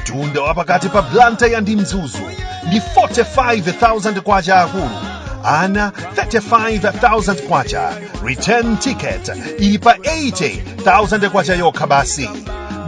mtunda wa pakati pa blantyre ndi mzuzu ndi 45,000 kwacha akulu ana 35,000 kwacha return ticket ili pa 80,000 kwacha yokha basi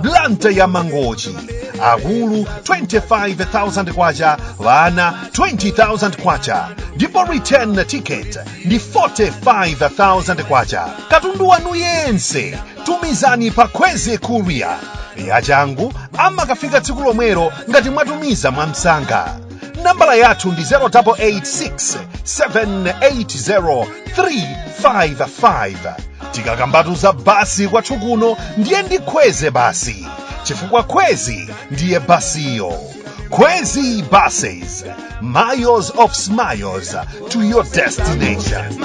blantyre mangochi akulu 25,000 kwacha ana 20,000 kwacha ndipo return ticket ndi 45,000 kwacha katundu wanu yense tumizani pa kwezy courier yachangu amakafika tsiku lomwelo ngati mwatumiza mwamsanga nambala yathu ndi 0886 780 355 tikakambatu za basi kwathu kuno ndiye ndi kwezy basi chifukwa kwezy ndiye basiyo kwezy buses miles of smiles to your destination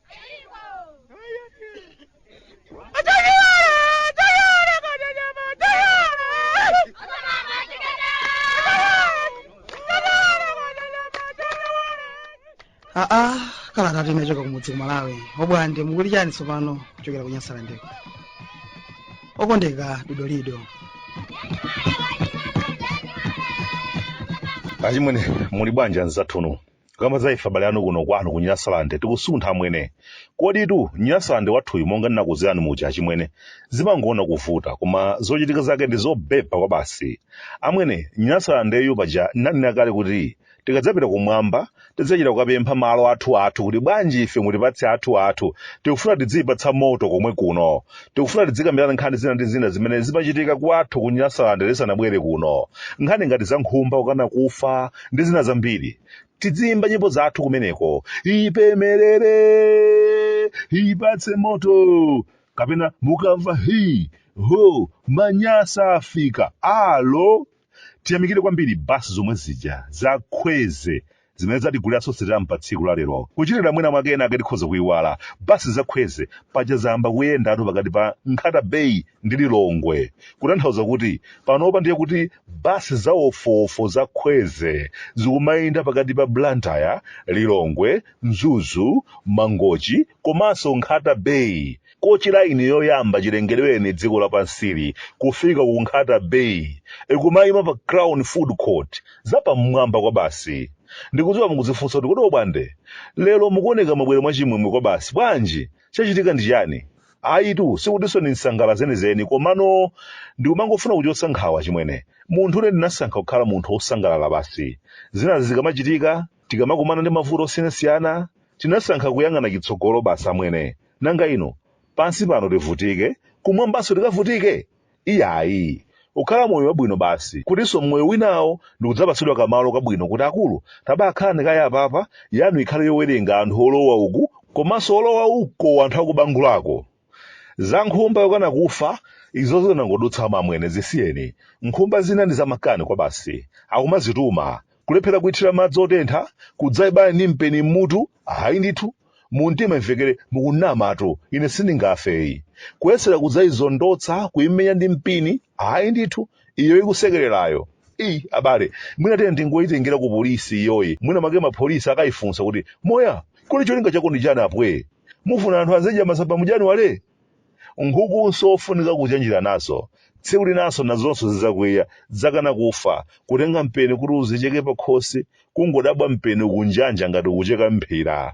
aa kalata tinachoka kumudzi ku malawi obwande mukuti chani tsopano kuchokera ku nyasalandeko okondeka dodolido achimwene muli bwanji anzathunu kamba za ife abale anu kuno kwanu ku nyasalande tikusuntha amwene koditu nyasalande wathuyu monga ndinakuuzirani muja achimwene zimangoona kuvuta koma zochitika zake ndi zobeba kwabasi amwene nyasalandeyu paja ndinanena kale kuti tikadzapita kumwamba tidzachita kukapempha malo athu athu kuti bwanji ife mutipatse athu athu tikufuna tidziyipatsa moto komwe kuno tikufuna tidzikambirana nkhani zina ndi zina zimene zimachitika kwathu ku nyasalande tisanabwere kuno nkhani ngati za nkhumba kukana kufa ndi zina zambiri tidziyimba nyimbo zathu kumeneko ipemerere ipatse moto kapena mukamva hi ho manyasa afika alo tiyamikire kwambiri basi zomwe zija za kwezy zimene zatiguliranso sitampu pa tsiku la lero kuchitira mwina mwake ena ake tikhoza kuyiwala basi za kwezy paja zayamba kuyendatu pakati pa nkhata bay ndi lilongwe kutanthauza kuti panopa ndiye kuti basi za wofuwofu za kwezy zikumayenda pakati pa blantyre lilongwe mzuzu mangochi komanso Nkhata Bay, coachline yoyamba chilengedwereni dziko lapansili kufika ku Nkhata Bay, ikumaima pa Crown Food Court, zapamwamba kwabasi. Ndikudziwa mukudzifunsa kuti kodi Obwande, lero mukuoneka mwabwera mwachimwemwe kwabasi, bwanji? Chachitika ndi chiyani? Ayitu, sikutinso ndi nsangala zenizeni, komano ndikumangofuna kuchotsa nkhawa achimwene. Munthune ndinasankha kukhala munthu wosangalala basi. Zinazi zikamachitika, Tikamakumana ndi mavuto osiyanasiyana, tinasankha kuyang'ana chitsogolo basi amwene. Nanga inu, pansi pano tivutike, kumwambanso tikavutike? Iyayi. Ukhala moyo wabwino basi, kutinso m'moyo winawo ndikudzapatsidwa kamalo kabwino kuti akulu, tabakhalani kaye apapa, yanu ikhale yowerenga anthu olowa uku komanso olowa uko anthu akubangulako. za nkhumba yokana kufa izo zinangodutsa amwene zisiyeni nkhumba zina ndi zamakani kwabasi akumazituma kulephera kuithira madzi otentha kudzaibaya ndi mpeni mmutu ayi ndithu mumtima imvekere mukunamatu ine sindingafeyi kuyesera kudzayizondotsa kuyimenya ndi mpini ayi ndithu iyo ikusekererayo eyi abale mwina tiyeni tingoyitengera ku polisi iyoyi mwina make mapolisi akayifunsa kuti moya kodi cholinga chako ndi chani aphwe mufuna anthu azidya masamba mu janiwale nkhukunso zofunika kuchenjera nazo tsiku linanso nazonso zidzakwiya nkudzakana kufa kutenga mpeni kuti uzicheke pakhosi kungodabwa mpeni ukunjanja ngati ukucheka mphira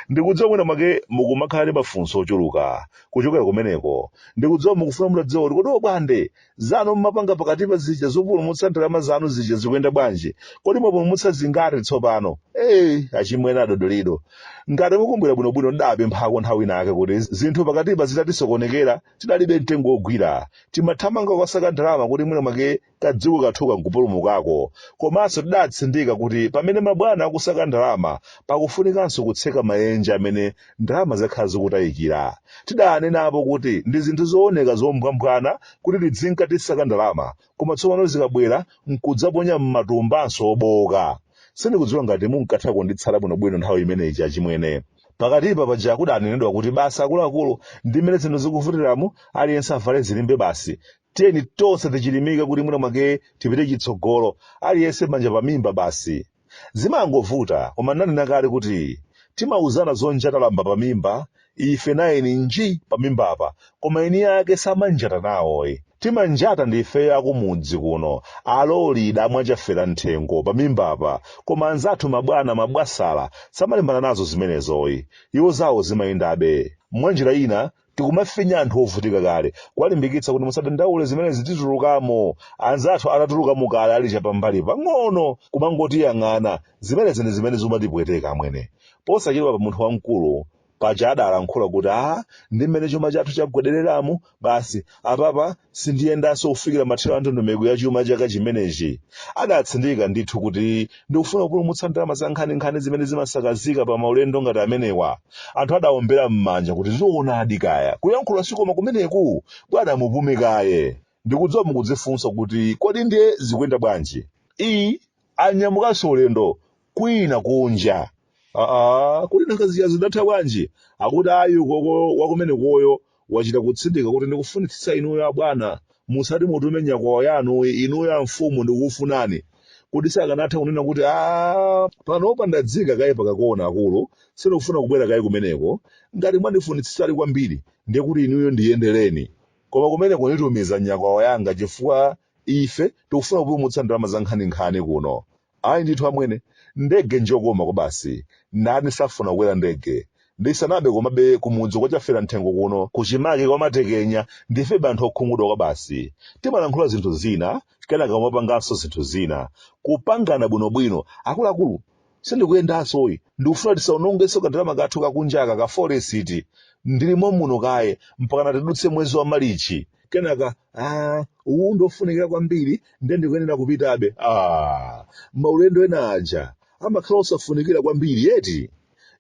Ndikudziwa mwina mwake mukumakhala ndi mafunso ochuluka kuchokera kumeneko. Ndikudziwa mukufuna mutadziwa kuti kodi obwande zanu mmapanga pakatipa zija zopulumutsa ndalama zanu zija zikuyenda bwanji? Kodi mwapulumutsa zingati tsopano? Ee, achimwene adodolido. Ngati mukumbukira bwinobwino ndidapemphako nthawi ina yake kuti zinthu pakatipa zitatisokonekera tidalibe mtengo wogwira. Timathamanga kukasaka ndalama kuti mwina mwake kadziko kathuka nkupulumukako komanso tidatsindika kuti pamene mabwana akusaka ndalama pakufunikanso kutseka maenje amene ndalama zakhala zikutayikira tidanenapo kuti ndi zinthu zooneka zombwambwana kuti tidzinka tisaka ndalama koma tsopano zikabwera nkudzaponya m'matumbanso obowoka sindikudziwa ngati munkatha kunditsata bwinobwino nthawi imene ija achimwene pakatipa paja kudanenedwa kuti basi akuluakulu ndi mmene zinthu zikuvutiramu aliyense avale zilimbe basi tiyeni tonse tichilimike kuti mwina mwake tipite chitsogolo aliyense manja pamimba basi zimangovuta koma nanena kale kuti timauzana zonjata lamba pamimba ife naye nji pamimbapa koma eni ake samanjata nawoyi timanjata ndi ifeyo akumudzi kuno a lole idamwa a chafera mthengo pamimbapa koma anzathu mabwana mabwasala samalimbana nazo zimenezoyi iwo zawo zimayendabe mwanjira ina tikumafinya anthu ovutika kale kuwalimbikitsa kuti musadandaule zimenezi titulukamo anzathu atatulukamo kale ali chapambali pang'ono kumangotiyang'ana zimenezi ndi zimene zimatipweteka amwene posachedwapa munthu wamkulu paja adalankhula kuti a ndi mmene chuma chathu chagwedereramu basi apapa sindiyendanso kufikira mathero a ndondomeko ya chuma chaka chimenechi adatsindika ndithu kuti ndikufuna kupulumutsa ndalama zankhaninkhani zimene zimasakazika pa maulendo ngati amenewa anthu adawombera m'manja kuti zoonadi kaya kuyankhula si koma kumeneku bwana mupume kaye ndikudziwa mukudzifunsa kuti kodi ndiye zikuyenda bwanji iyi anyamukanso ulendo kwina kunja aa kuti nanga zija zidatha bwanji akuti ayi koko wakumenekoyo wachita kutsindika kuti ndikufunitsitsa inuyo abwana musati mutume nyakwawa yanu inuyo amfumu ndikukufunani kuti sakanatha kunena kuti a panopa ndadzika kaye pakakona akulu sindikufuna kubwera kaye kumeneko ngati mwandifunitsitsadi kwambiri ndiye kuti inuyo ndiyendereni koma kumeneko nditumiza nyakwawa yanga chifukwa ife tikufuna kupulumutsa ndalama za nkhaninkhani kuno Ayi ndithu amwene, ndege njokoma kwabasi, ndani safuna kukwera ndege? Ndi sanabe komabe kumudzi kwa Chafera Mthengo kuno kuchimake kwa Matekenya ndife banthu okhumudwa kwabasi. Timalankhula zinthu zina kenaka kumapanganso zinthu zina. Kupangana bwinobwino akuluakulu sindikuyendansoyi ndikufuna tisaonongenso kandalama kathu kakunjaka ka foreksi ndili momuno kaye mpakana tidutse mwezi wa Malichi. kenaka ah, uwu ndiofunikira kwambiri nde ndikuyenera kupitabe ah, maulendo ena aja amakhala osafunikira kwambiri eti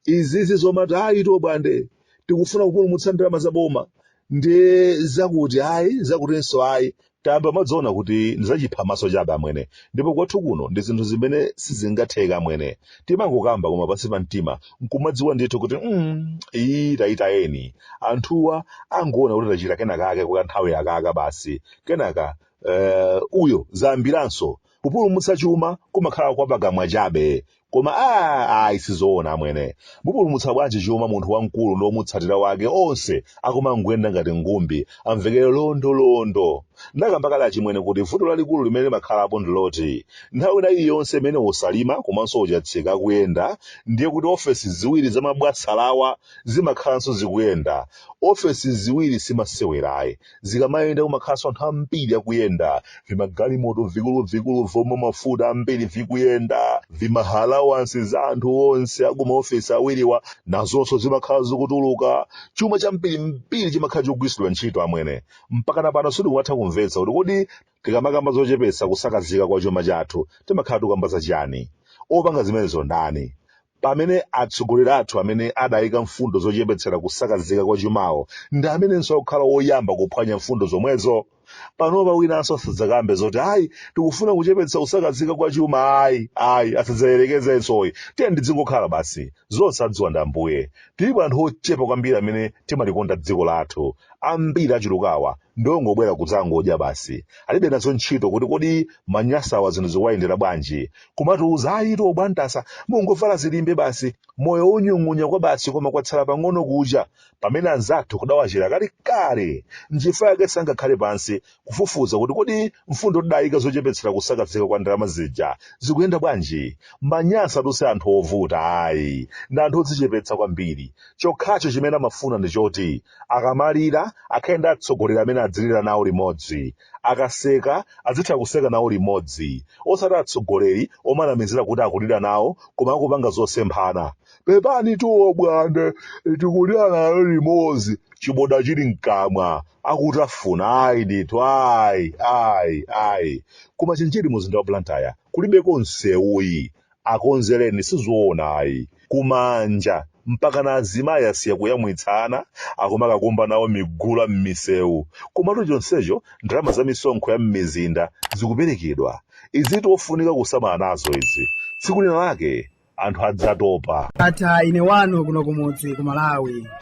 izizi zomati ayi tobwande tikufuna kupulumutsa ndalama za boma ndi zakuti ayi zakutinso ayi tambe mmadziona kuti ndizachiphamaso chabe amwene ndipo kwathu kuno ndi zinthu zimene sizingatheka amwene timangokamba koma pansi pa mtima nkumadziwa ndithu kuti mm, iyi tayitayeni anthuwa angoona kuti tachita kenakake kwa nthawi yakaka basi kenaka eh, uyo zayambiranso kupulumutsa chuma kumakhala kwa pakamwa chabe koma a ayi sizoona amwene mupulumutsa bwanji chuma munthu wamkulu ndi omutsatira wake onse akumangoyenda ngati ngumbi amvekele londolondo ndakamba kale achimwene kuti vuto lalikulu limene limakhalapo ndiloti nthawi ina iliyonse imene o Saulima komanso o Chatsika akuyenda ndiye kuti ofesi ziwiri za mabwasalawa zimakhalanso zikuyenda ofesi ziwiri simasewerayi zikamayenda kumakhalanso anthu ambiri akuyenda vimagalimoto vikuluvikulu vomwa mafuta ambiri vikuyenda vimaalawansi za anthu onse akumaofesi awiriwa nazonso zimakhala zikutuluka chuma chambirimbiri chimakhala chikugwiritsidwa ntchito amwene mpakana pano sitikumatha kumvetsa kuti kodi tikamakamba zochepetsa kusakazika kwa chuma chathu timakhala tikukamba za chiyani opanga zimenezo ndani pamene atsogoleri athu amene adaika mfundo zochepetsera kusakazika kwa chumawo ndi amenenso akukhala oyamba kuphwanya mfundo zomwezo panopa winanso asadzakambe zoti ayi tikufuna kuchepetsa kusakazika kwa chuma ayi ayi asadzayerekezensoyi tiyeni tidzingokhala basi zonse adziwa ndi ambuye tilipo anthu ochepa kwambiri amene timalikonda dziko lathu ambiri achulukawa ndiongobwera kudzangodya basi alibe nazo ntchito kuti kodi aManyasawa zinthu zikuwayendera bwanji kumatiuza ayitu o Bwantasa mungovala zilimbe basi moyo onyung'unya kwabasi koma kwatsala pang'ono kucha pamene anzathu kudawachera kali kale nchifukwa yake sangakhale pansi kufufuza kuti kodi mfundo tidayika zochepetsera kusakazika kwa ndalama zija zikuyenda bwanji Manyasatu si anthu ovuta ayi ndi anthu odzichepetsa kwambiri chokhacho chimene amafuna ndi choti akamalira akhale ndi atsogoleri amene adzilira nawo limodzi Akaseka azitha kuseka nawo limodzi osati atsogoleri omanamizira kuti akulira nawo koma akupanga zosemphana. Pepanitu o Bwande tikulira nayo limodzi chiboda chili mkamwa akutafuna ayi ndithu ayi ayi ayi. Ku Machinjiri mu mzinda wa Blantyre kulibeko nsewu ayi. akonzereni sizoona ayi ku Manja mpakana azimayi asiya kuyamwitsa ana akumakakumba nawo migula mmisewu komatu chonsecho ndalama za misonkho ya mmizinda zikuperekedwa izitu zofunika kusamala nazo izi tsiku lina lake anthu adzatopa. Ndatha ine wanu kuno kumudzi ku Malawi.